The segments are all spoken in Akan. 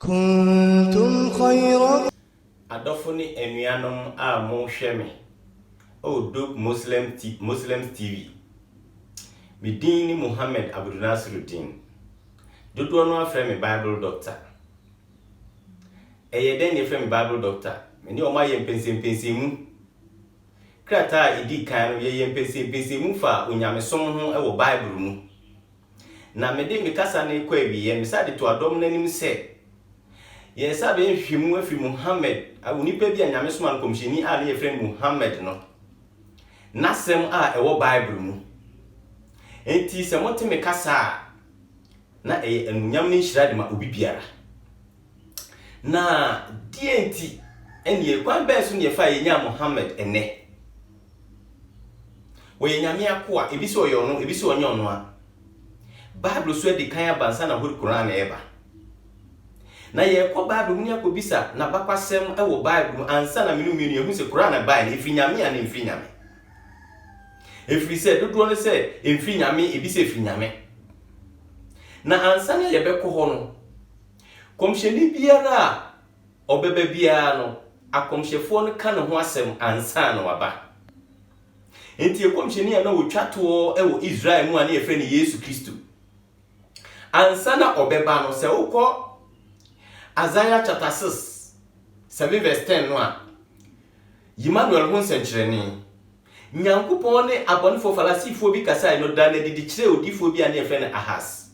Kuntum khayra. Adɔfo ne anuanom a mo hwɛ me oh dope Muslim ti Muslims TV me din ne Muhammad Abudunasirudeen dodoɔ no ara frɛ me Bible Doctor ɛyɛ dɛn na yɛfrɛ me Bible Doctor me ne wɔn ayɛ mpɛnsɛmpɛnsɛmu krataa a ɛdi kan no yɛyɛ mpɛnsɛmpɛnsɛmu faa onyamesom ho wɔ Bible mu na mede me kasa no rekɔ awieɛ, mesan de to adɔm no anim sɛ, Yɛn nsa bɛyɛ nhwehwɛmu afiri Muhammad, onipa bi a Nyame somaa no nkɔmhyɛni a ne yɛfrɛ no Muhammad no, n'asɛm a ɛwɔ Bible mu. Enti sɛ mote me kasa a, na ɛyɛ anuonyam ne nhyira de ma obi biara. Na deɛ nti, ɛneɛ kwan bɛn so na yɛfa a yɛnyaa Muhammad ɛnnɛ? Ɔyɛ Nyame akoa, ebi se ɔyɛ ɔno, ebi se ɔnyɛ ɔno a. Bible so adi kan aba ansa na Hori Koran reba. Na yɛrekɔ Bible mu ne akɔbisa n'abakwasɛm wɔ Bible mu ansa na me ne wo mmienu yɛahu se Koran bae no, ɛfiri Nyame anaa ɛmfiri Nyame. Ɛfiri sɛ dodoɔ no sɛ ɛmfiri Nyame, ebi sɛ ɛfiri Nyame. Na ansa na yɛbɛkɔ hɔ no, kɔmhyɛni biara a ɔbɛba biara no, akɔmhyɛfoɔ no ka ne ho asɛm ansa na waba. Enti ɛkɔmhyɛni a na ɔtwa toɔ wɔ Israel mu a na yɛfrɛ no Yesu Kristo. Ansa na ɔbɛba no, sɛ wokɔ Isaiah chapter 6, 7 verse 10 no a, Emmanuel ho nsɛnkyerɛnne. Nyankopɔn ne abɔnefoɔ Farisifoɔ bi kasae no da no adi de kyerɛɛ odiyifoɔ bi a na yɛfrɛ no Ahas.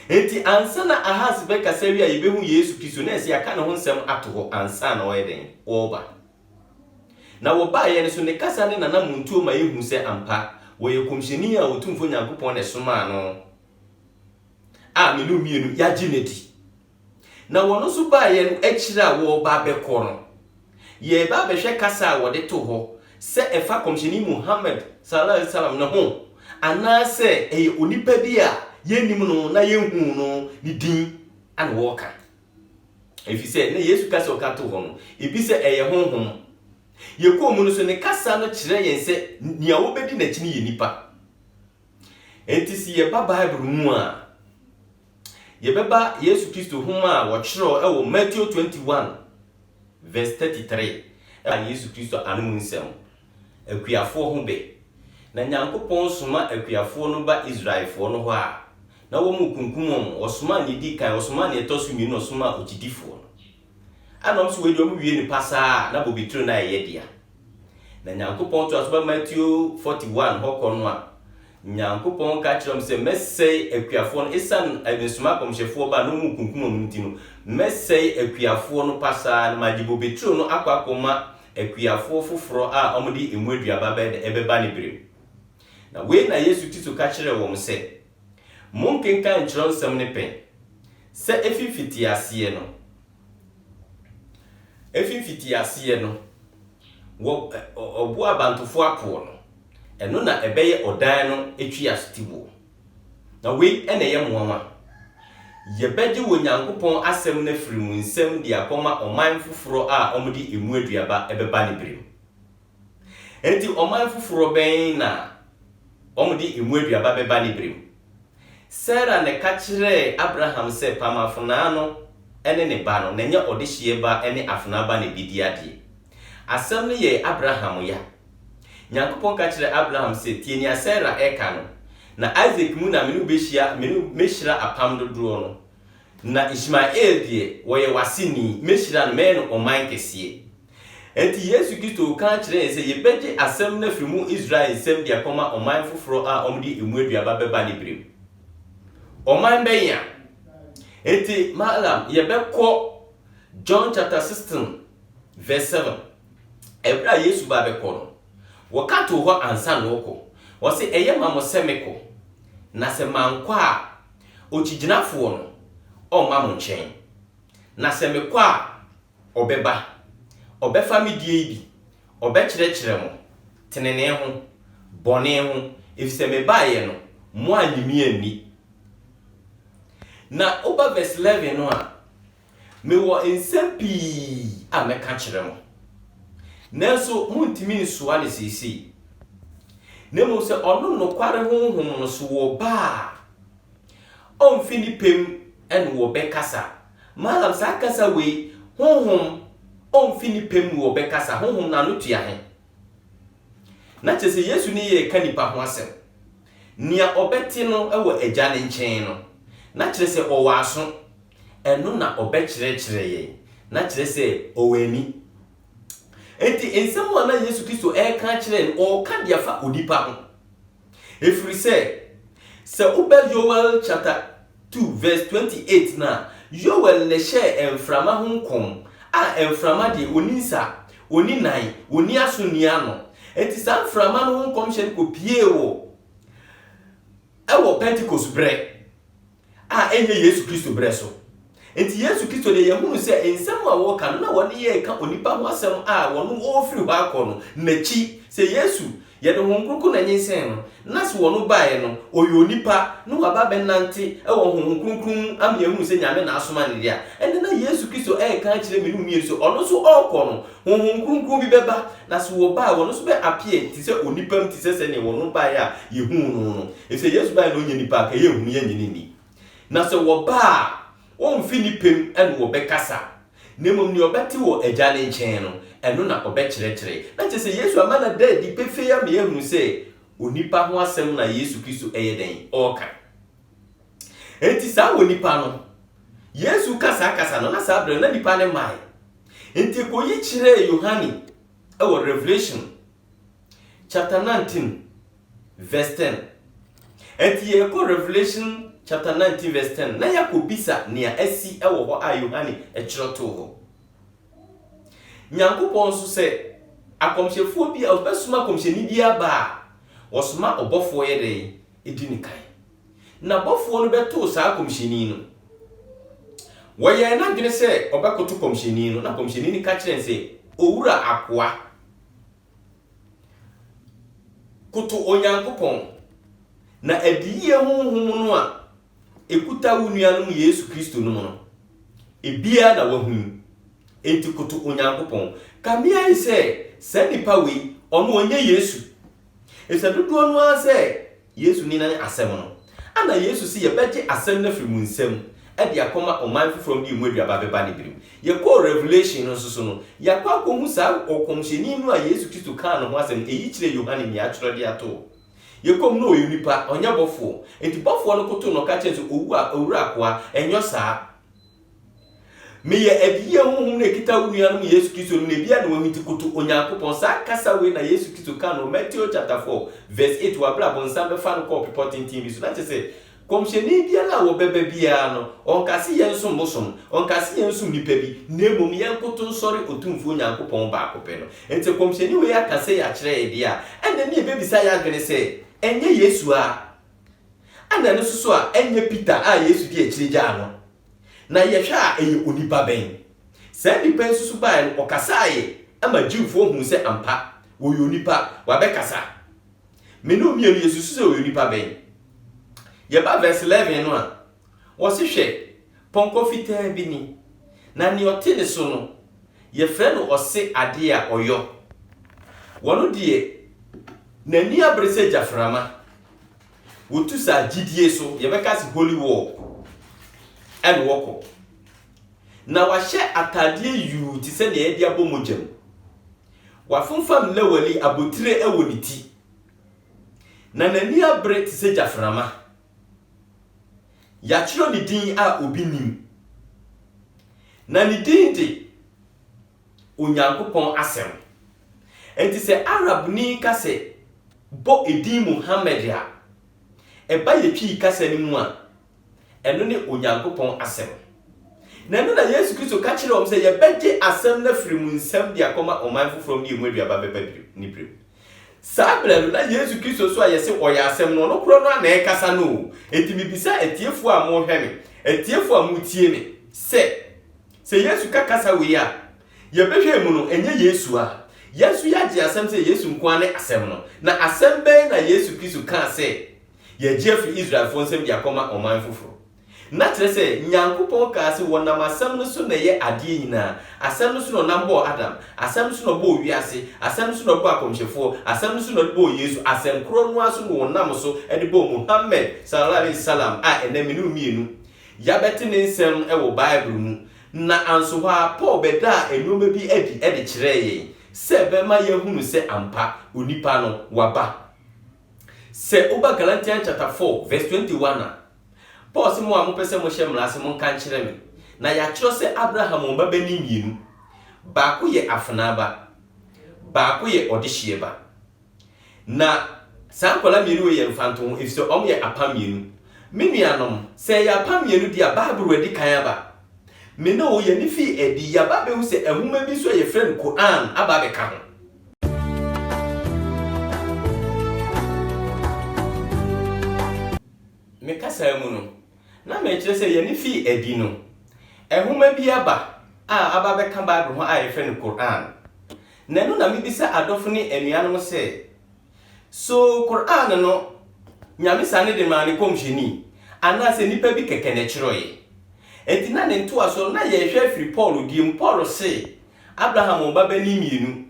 Enti ansa na Ahas bɛkasa awie a yɛbɛhu Yesu Kristo, na ɛsɛ yɛaka ne ho nsɛm ato hɔ ansa na ɔyɛ dɛn? Ɔreba. Na wɔbaeɛ no nso, ne kasa ne n'anammɔntuo ma yɛhu sɛ ampa, ɔyɛ kɔmhyɛni a Otumfoɔ Nyankopɔn na ɛsomaa no a me ne wo mmienu yɛagye no adi. Na wɔn nso baeɛ no, akyire a wɔreba abɛkɔ no, yɛreba abɛhwɛ kasa a wɔde too hɔ sɛ ɛfa Kɔmhyɛni Muhammad, Sallallahu Alaihi Wasallam, no ho, anaasɛ ɛyɛ onipa bi a yɛnnim no na yɛnhuu no ne din na wɔreka. Ɛfiri sɛ na Yesu kasa a ɔka too hɔ no, ebi sɛ ɛyɛ honhom. Yɛkɔɔ mu no nso, ne kasa no kyerɛɛ yɛn sɛ nea wɔbɛdi n'akyi no yɛ nnipa. Enti se yɛba Bible mu a, yɛbɛba Yesu Kristo nhoma a wɔkyerɛw wɔ Mateo 21 vs 33 a Yesu Kristo ano mu nsɛm, Akuafoɔ ho bɛ. Na Nyankopɔn soma akuafoɔ no ba Israelfoɔ no hɔ a, na wɔrekunkum wɔn, wɔsomaa nea edi kan, wɔsomaa nea ɛtɔ so mmienu na wɔsomaa okyidifoɔ no. Ana ɔm so wei deɛ ɔm wie no pasaa na bobeturo no ayɛ yɛdea. Na Nyankopɔn toa so ba Matthew 41 hɔ kɔ no a, Nyankopɔn ka kyerɛ ɔm sɛ, Mɛsɛe akuafoɔ no, esiane mesoma akɔmhyɛfoɔ ba na ɔmo kunkum ɔmo nti no, mɛsɛe akuafoɔ no pasaa, na magye bobeturo no akɔ akɔma akuafoɔ foforɔ a ɔmo de emu aduaba bɛda ɛbɛba ne berɛ mu. Na wei na Yesu Kristo ka kyerɛɛ wɔn sɛ, Monkenkan Kyerɛwnsɛm no pɛn sɛ efi mfitiaseɛ no. Efi mfitiaseɛ no, wɔ ɔboɔ abantofoɔ apoɔ no, ɛno na ɛbɛyɛ ɔdan no tweasotiboɔ. Na wei na ɛyɛ nwanwa. Yɛbɛgye Onyankopɔn Asɛm no afiri mo nsam de akɔma ɔman foforɔ a wɔde emu aduaba bɛba ne berɛ mu. Enti ɔman foforɔ bɛn na wɔde emu aduaba bɛba ne berɛ mu? Sara na ɛka kyerɛɛ Abraham sɛ pam afenaa no ne ne ba no, na ɛnyɛ ɔdehyeɛ ba ne afenaa ba na ɛbɛdi adeɛ. Asɛm no yɛɛ Abraham ya. Nyankopɔn ka kyerɛɛ Abraham sɛ, Tie nea Sara reka no, na Isak mu na me ne wo bɛhyia, me ne wo mɛhyira apam dodoɔ no, na Ismael deɛ, ɔyɛ w'aseni, mɛhyira no, mɛyɛ no ɔman kɛseɛ. Enti Yesu Kristo ka kyerɛɛ sɛ yebegye asɛm no afi mu Israel nsam de akɔma ɔman foforo a wɔde emu aduaba bɛba ne bere mu. Ɔman bɛn a? Enti Malam, yɛbɛkɔ John chapter 16 verse 7. Ɛberɛ a Yesu ba bɛkɔ no, wɔka too hɔ ansa na ɔkɔ. Ɔse, ɛyɛ ma mo sɛ mekɔ, na sɛ mankɔ a, okyigyinafoɔ no, ɔmma mo nkyɛn. Na sɛ mekɔ a, Ɔbɛba, ɔbɛfa me die yi bi, ɔbɛkyerɛkyerɛ mo, tenenee ho, bɔne ho, efisɛ me baeɛ no, mo annye me anni. Na woba verse 11 no a, Mewɔ nsɛm pii a mɛka akyerɛ mo, nanso montumi nsoa no seesei. Na mmom sɛ ɔno nokware Honhom no so wɔba a, ɔmfi ne pɛ mu na wɔbɛkasa, Malam saa kasa wei honhom ɔmfi ne pɛ mu ɔbɛkasa honhom no ano tua he? Na kyerɛ sɛ Yesu ne yɛɛka nipa ho asɛm. Nea ɔbɛte no wɔ Agya no nkyɛn no, na kyerɛ sɛ ɔwɔ aso, ɛno na ɔbɛkyerɛkyerɛ yɛn, na kyerɛ sɛ ɔwɔ ani. Enti nsɛm a na Yesu Kristo reka akyerɛ no, ɔreka de afa onipa ho. Ɛfiri sɛ, sɛ woba Yoel chapter two verse twenty eight no a, Yoel na ɛhyɛɛ mframa ho nkɔm, a mframa deɛ, ɔnni nsa, ɔnni nan, ɔnni aso nni ano. Enti saa mframa no ho nkɔmhyɛ no kɔpiee wɔ ɛwɔ Pentecost berɛ. a ɛnyɛ Yesu Kristo berɛ so. Enti Yesu Kristo deɛ yɛhunu sɛ nsɛm a wɔka no na wɔde reka onipa ho asɛm a wɔno ɔrefiri hɔ akɔ no n'akyi. Sɛ Yesu, yɛde Honhom Kronkron na nyinsɛn no, na sɛ wɔno baeɛ no ɔyɛ onipa na waba abɛnante wɔ Honhom Kronkron mu ama yɛahunu sɛ Nyame na asoma no deɛ a, ɛnde na Yesu Kristo reka akyerɛ me ne wo mmienu sɛ ɔno nso ɔrekɔ no Honhom Kronkron bi bɛba, na se wɔba a, wɔn nso bɛ appear te sɛ onipa mu te sɛ sɛdeɛ wɔn no baeɛ a yɛhuu no no. Efisɛ Yesu baeɛ na ɔnyɛ nipa a, ka yɛnhunu, yɛnnye no nni. Na sɛ wɔba a, wɔmmfi ne pɛ mu na wɔbɛkasa, na mmom nea ɔbɛte wɔ Agya no nkyɛn no, ɛno na ɔbɛkyerɛkyerɛ. Na kyerɛ sɛ Yesu ama no ada adi pefee ama yɛahunu sɛ onipa ho asɛm na Yesu Kristo ɛyɛ dɛn? Ɔreka. Enti saa onipa no, Yesu reka saa kasa no, na saa berɛ no na nnipa no mmae. Enti ekoyi kyerɛɛ Yohane wɔ Revelation chapter 19 verse 10. Enti yɛkɔ Revelation chapter 19 verse 10 na yɛakɔbisa nea asi wɔ hɔ a Yohane kyerɛ too hɔ. Nyankopɔn nso sɛ akɔmhyɛfoɔ bi a ɔbɛsoma akɔmhyɛni bi aba a, wɔsoma ɔbɔfoɔ yɛ dɛn? Ɛdi ne kan. N'abɔfoɔ no bɛtoo saa kɔmhyɛni no. Wɔyɛɛ n'adwene sɛ ɔbɛkoto kɔmhyɛni no, na kɔmhyɛni no ka kyerɛɛ no sɛ, Owura akoa, koto Onyankopɔn, na adiyie honhom no a ɛkuta wo nuanom Yesu Kristo nom no, ebiara na woahu yi. Enti koto Onyankopɔn. Ka me ayi sɛ saa nipa wei, ɔno ɔnyɛ Yesu? Efisɛ dodoɔ no ara sɛ Yesu ne nan asɛm no. Ana Yesu se yɛbɛgye asɛm no afiri mo nsam de akɔma ɔman foforɔ no de emu aduaba bɛba ne bere mu? Yɛkɔɔ Revelation no nso so no, yɛakɔ akɔhu saa ɔkɔmhyɛni no a Yesu Kristo kaa ne ho asɛm no, eyi kyerɛɛ Yohane nea atwerɛ de ato hɔ. Yɛkɔ mu no ɔyɛ onipa, ɔnyɛ bɔfoɔ. Enti bɔfoɔ no koto no ka kyerɛɛ no sɛ, Owura, owura akoa, ɛnyɔ saa. Meyɛ adiyie honhom no a ɛkita wo nua no mu Yesu Kristo no na ebi a na wahwinti koto Onyankopɔn. Saa kasa wei na Yesu Kristo kaa no wɔ Mateo chapter four verse eight wɔ aberɛ a bonsam bɛfaa no kɔɔ bepɔ tenten bi so na kyɛsɛ kɔmhyɛni biara a wɔbɛba biara no ɔnka se yɛnsom bosom, ɔnka se yɛnsom nipa bi na mmom yɛnkoto nsɔre Otumfoɔ Onyankopɔn baako pɛ no. Nti kɔmhyɛni wei aka sei akyerɛ yɛ deɛ a ɛnneɛ ne yɛbɛbisa yɛn adwene sɛ ɛnyɛ Yesu ara Ana ɛno nso so a ɛnyɛ Peter a Yesu di akyire gyaa no? Na yɛhwɛ a ɛyɛ onipa bɛn? Saa nnipa yi nso so baeɛ no, wɔkasaeɛ ma Jewfoɔ huu sɛ ampa, wɔyɛ onipa, wɔabɛkasa. Me ne wo mmienu yɛsusu sɛ wɔyɛ onipa bɛn? Yɛba verse 11 no a, wɔse hwɛ, pɔnkɔ fitaa bi ni, na nea ɔte ne so no, yɛfrɛ no ɔse adeɛ a ɔyɔ. Ɔno deɛ, n'ani abere sɛ gyaframa, Wotu sa gyidie so, yɛbɛka se holy war, ɛne wɔkɔ. Na wahyɛ ataadeɛ yuu te sɛ nea yɛde abɔ mogya mu. Wafomfam lawali abotire wɔ ne ti. Na n'ani abere te sɛ gyaframa. Yɛatwerɛ ne din a obi nim. Na ne din de Onyankopɔn Asɛm. Enti sɛ Arabni ka sɛ, Bɔ edin Muhammad a, ɛba yɛn Twi kasa no mu a, ɛno ne Onyankopɔn Asɛm. Na ɛno na Yesu Kristo ka kyerɛɛ wɔn sɛ, Yɛbɛgye asɛm no afiri mo nsam de akɔma ɔman foforɔ ne emu aduaba bɛba ne berɛm. Saa berɛ no, na Yesu Kristo nso a yɛse ɔyɛ Asɛm no, ɔno korɔ no ara na ɛrekasa no o. Enti mebisa atiefoɔ a morehwɛ me, atiefoɔ a moretie me sɛ, Sɛ Yesu ka kasa wei a yɛbɛhwɛ mu no, ɛnyɛ Yesu a. Yɛn nso yɛagye asɛm sɛ Yesu nko ara ne Asɛm no. Na asɛm bɛn na Yesu Kristo kaa sɛ yɛagye afiri Israelfoɔ nsam de akɔma ɔman foforɔ? Na kyerɛ sɛ, Nyankopɔn kaa sɛ wɔnam Asɛm no so na ɛyɛ adeɛ nyinaa. Asɛm no so na ɔnam bɔɔ Adam. Asɛm no so na ɔbɔɔ wiase. Asɛm no so na ɔbɔɔ akɔmhyɛfoɔ. Asɛm no so na ɔde bɔɔ Yesu. Asɛm korɔ no ara so na ɔnam so de bɔɔ Muhammad, Salallahu Alaihi Wasallam, a ɛnnɛ me ne wo mmienu Yɛabɛte ne nsɛm wɔ Bible mu, na anso hɔ ara Paul bɛdaa nneɛma bi adi de kyerɛɛ yɛn sɛ ɛbɛma yɛahunu sɛ ampa, onipa no, waba. Sɛ woba Galatians chapter four verse twenty one a, Paul se, Mo a mopɛ sɛ mohyɛ mmara ase, monka nkyerɛ me. Na yɛatwerɛ sɛ Abraham wɔ mmabanin mmienu, baako yɛ afenaa ba, baako yɛ ɔdehyeɛ ba. Na saa nkwadaa mmienu wei yɛ mfantoho, efisɛ wɔyɛ apam mmienu. Me nuanom, sɛ ɛyɛ apam mmienu deɛ a, Bible redi kan aba. Me ne wo, yɛn ani fii adi, yɛaba abɛhu sɛ nwoma bi nso a yɛfrɛ no Qur'aan aba abɛka ho. Me kasaa mu no, na merekyerɛ sɛ yɛn ani fii adi no, nwoma bi aba a aba abɛka Bible ho a yɛfrɛ no Qur'aan. Na ɛno na mebisa adɔfo ne anuanom sɛ, So Qur'aan no, Nyame sane de maa ne Nkɔmhyɛni, anaasɛ nnipa bi kɛkɛ na ɛkyerɛwee? Enti na ne ntoasoɔ no, na yɛrehwɛ afiri Paul deɛ mu. Paul se, Abraham wɔ mmabanin mmienu,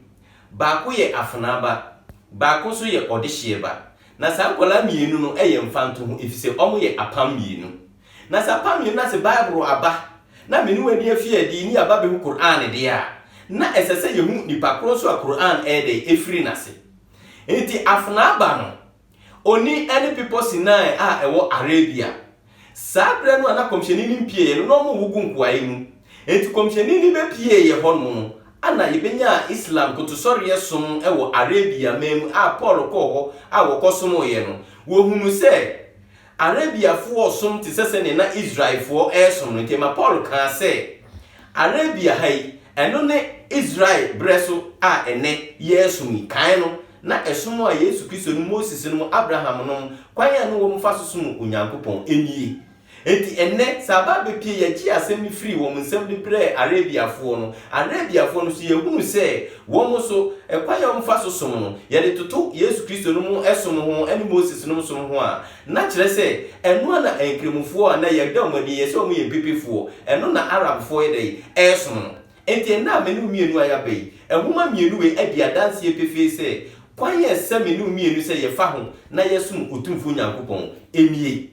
baako yɛ afenaa ba, baako nso yɛ ɔdehyeɛ ba, na saa nkwadaa mmienu no yɛ mfantoho, efisɛ wɔyɛ apam mmienu. Na sɛ apam yi nna se Bible aba na me ne wo adi afi adi ne yɛaba bɛhu Qur'aan deɛ a, na ɛsɛ sɛ yɛhu nipa korɔ nso a Qur'aan ɛyɛ dɛn? Ɛfiri n'ase. Enti afenaa ba no, ɔni ɛne bepɔ Sinai a ɛwɔ Arabia. Saa berɛ no a na Kɔmhyɛni no mpieeɛ no, na wɔwo gu nkoaɛ mu. Enti Kɔmhyɛni no bɛpieeɛ hɔ nom no, ɛna yɛbɛnyaa Islam kotosɔreɛ som wɔ Arabia man mu a Paul kɔɔ hɔ a wɔkɔsomoeɛ no, wɔhunu sɛ Arabiafo resom te sɛ sɛnea na Israelfo resom no. Enti ma Paul kaa sɛ, Arabia ha yi, ɛno ne Israel bere so a ɛnnɛ yɛresom yi. Kan no, na ɛsom a Yesu Kristo nom, Moses nom, Abraham nom, kwan a na wɔfa so som Onyankopɔn nie. Enti ɛnnɛ, sɛ aba abepue, yɛgyee asɛm no firii wɔn nsam de brɛɛ Arabiafo no. Arabiafo no nso, yɛahunu sɛ Wɔn nso, kwan a wɔfa so som no, yɛde toto Yesu Kristo nom som ho ne Moses nom som ho a, na kyerɛ sɛ, ɛno ara na Nkrammofoɔ a na yɛda wɔn adi yɛ sɛ wɔyɛ mpepefoɔ, ɛno na Arabfoɔ yɛ dɛn? Ɛresom no. Enti ɛnnɛ a me ne wo mmienu a yɛaba yi, nwoma mmienu wei adi adanseɛ pefee sɛ, kwan a ɛsɛ me ne wo mmienu sɛ yɛfa ho na yɛsom Otumfoɔ Nyankopɔn nie.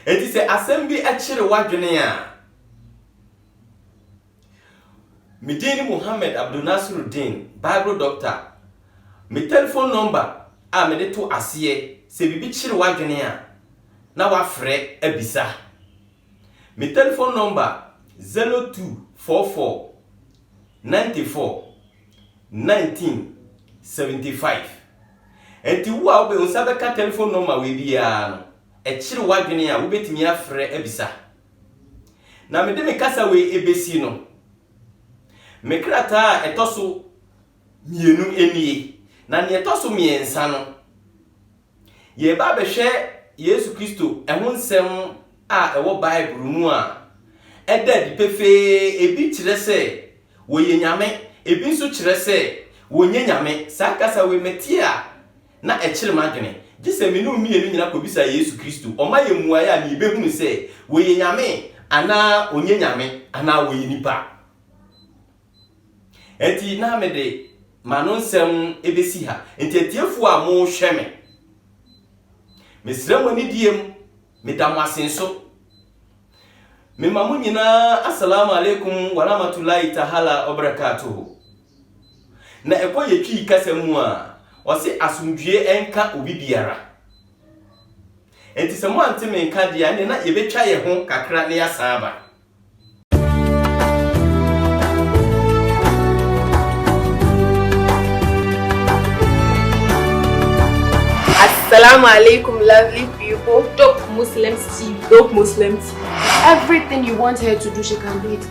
Enti sɛ asɛm bi kyere w'adwene a, Me din ne Mohammed Abdulnasiruddin, Bible Doctor. Me telephone number a mede to aseɛ, sɛ biribi kyere w'adwene a, na wafrɛ abisa. Me telephone number 0244941975. Ɛnti wo a wode wo nsa bɛka telephone number wei biara no, ɛkyere w'adwene a, wobɛtumi afrɛ abisa. Na mede me kasa wei rebesi no, me krataa a ɛtɔ so mmienu nie, na nea ɛtɔ so mmiɛnsa no, yɛreba abɛhwɛ Yesu Kristo ho nsɛm a ɛwɔ Bible mu a ɛda adi pefee, ebi kyerɛ sɛ wɔyɛ Nyame, ebi nso kyerɛ sɛ wɔnyɛ Nyame. Saa kasa wei, mete a, na ɛkyere m'adwene. Gye sɛ me ne wo mmienu nyina kɔbisa Yesu Kristo, ɔma yɛn mmuaeɛ a, na yɛbɛhunu sɛ Ɔyɛ Nyame anaa Ɔnyɛ Nyame, anaa Ɔyɛ nipa. Ɛnti na me de m'ano nsɛm bɛsi ha. Ɛnti atiefoɔ a mo rehwɛ me, mesrɛ mo anidie mu, me da mo ase nso. Me ma mo nyinaa Asalamu Alaikum Waramatulahi Tahala Wabarakatuhu. Na ɛkɔ yɛ Twi kasa mu a, wɔse asomdwoeɛ nka obi biara. Enti sɛ moante me nka deɛ a, ɛnneɛ na yɛbɛtwa yɛn ho kakra na yɛasan aba. Assalamu alaikum lovely people. Dope Muslims TV. Dope Muslim TV. Everything you want her to do, she can do it.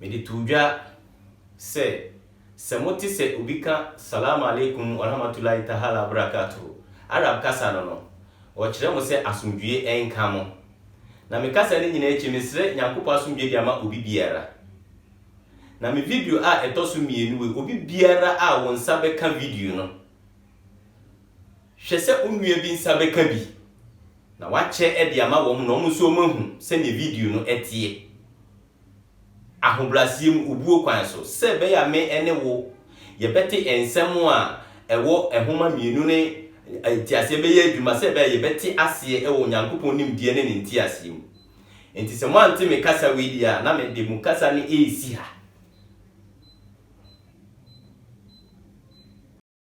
Mede too dwa sɛ, sɛ mote sɛ obi ka Salaam Alaikum Warahmatullahi Tahala Wabarakatuhu, Arab kasa no no, wɔkyerɛ mo sɛ asomdwoe nka mo. Na me kasa no nyinaa akyi, mesrɛ Nyankopɔn asomdwoe de ama obi biara. Na me video a ɛtɔ so mmienu wei, obi biara a wo nsa bɛka video no, Hwɛ sɛ wo nua bi nsa bɛka bi, na wakyɛ de ama wɔn na wɔn nso wɔahu sɛnea video no teɛ. Ahobrɛaseɛ mu, obuo kwan so, sɛ ɛbɛyɛ a me ne wo yɛbɛte nsɛm a ɛwɔ nwoma mmienu no nteaseɛ bɛyɛ adwuma, sɛ ɛbɛyɛ a yɛbɛte aseɛ wɔ Onyankopɔn nimdeɛ ne Ne nteaseɛ mu. Enti sɛ moante me kasa wei deɛ a, na mede mo kasa no resi ha.